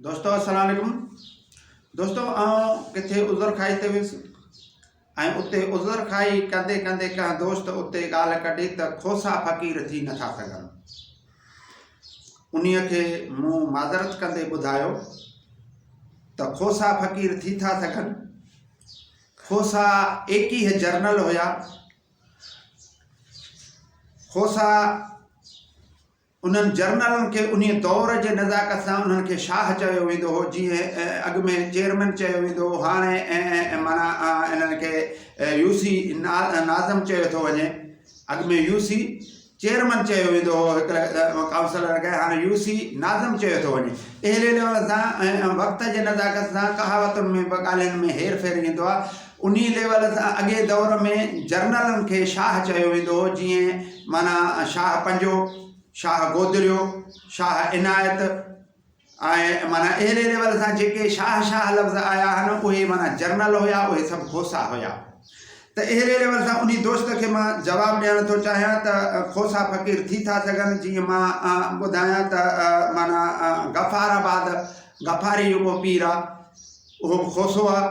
دوستو السلام عليڪم دوستو آئون ڪٿي عذر کائي تي ويس ۽ اتي عذر کائي ڪندي ڪندي ڪنهن دوست اتي ڳالهه ڪڍي ته کوسا فقير ٿي نٿا سگهن انهي کي مون معذرت ڪندي ٻڌايو ته کوسا فقير ٿي ٿا سگهن کوسا ايڪيهه جرنل هيا کوسا انهن جرنلن کي انهيء دور جي نزاڪت سان انهن کي شاهه چيو ويندو هو، جيئن اڳ ۾ چيئرمين چيو ويندو هو، هاڻي معنيٰ انهن کي يوسي ناظم چيو ٿو وڃي. اڳ ۾ يوسي چيئرمين چيو ويندو هو هڪ ڪائونسلر کي، هاڻي يوسي ناظم چيو ٿو وڃي. اهلي لفظ سان ۽ وقت جي نزاڪت سان ڪهاوتن ۾ به ڳالهين ۾ هير ڦير ايندو آهي. انهي ليول سان اڳئين دور ۾ جرنلن کي شاهه چيو ويندو هو جيئن معنيٰ شاهه پنجو، شاهه گودريو، شاهه عنايت ۽ معنيٰ اهڙي ليول سان جيڪي شاهه شاهه لفظ آيا آهن اهي معنيٰ جرنل هيا اهي سڀ کوسا هيا ته اهڙي ليول سان انهي دوست کي مان جواب ڏيڻ ٿو چاهيان ته کوسا فقير ٿي ٿا سگهن جيئن مان ٻڌايان ته معنيٰ غفار آباد غفاري جيڪو پير آهي اهو به کوسو آهي.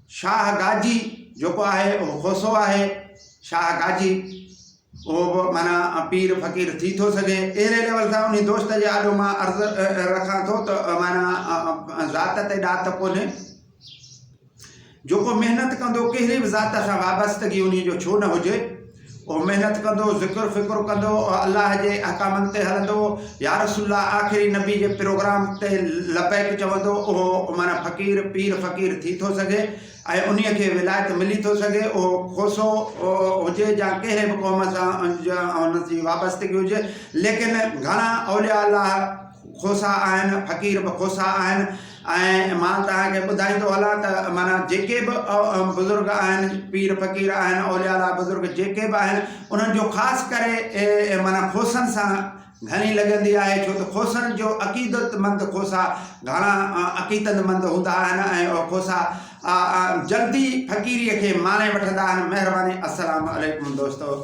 شاهه گاجي جيڪو آهي اهو کوسو آهي. شاهه گاجي اهو به معنيٰ پير فقير ٿي ٿو سگهي. اهڙي ليول سان انهي دوست جي آڏو مان عرض رکان ٿو ته معنيٰ ذات تي ڏات ڪونهي. جيڪو محنت ڪندو ڪهڙي به ذات سان وابستگي انهي جو ڇو نه هجي. اهو محنت ڪندو، ذڪر فڪر ڪندو ۽ الله جي احڪامن تي هلندو، يارسول الله آخري نبي جي پروگرام تي لبيڪ چوندو، اهو معنيٰ فقير، پير فقير ٿي ٿو سگهي ۽ انهيء کي ولايت ملي ٿو سگهي، اهو کوسو هجي يا ڪنهن به قوم سان ان جي وابستگي هجي، ليڪن گهڻا اولياء الله، کوسا آهن، فقير به کوسا آهن ۽ مان توهان کي ٻڌائيندو هلان ته معنيٰ جيڪي به بزرگ آهن، پير فقير آهن، اولياء الله بزرگ جيڪي به آهن انهن جو خاص ڪري معنيٰ کوسن سان گهڻي لڳندي آهي ڇو ته کوسن جو عقيدت مند کوسا گهڻا عقيدت مند هوندا آهن ۽ کوسا جلدي فقيري کي ماڻي وٺندا آهن مهرباني السلام عليڪم دوستو.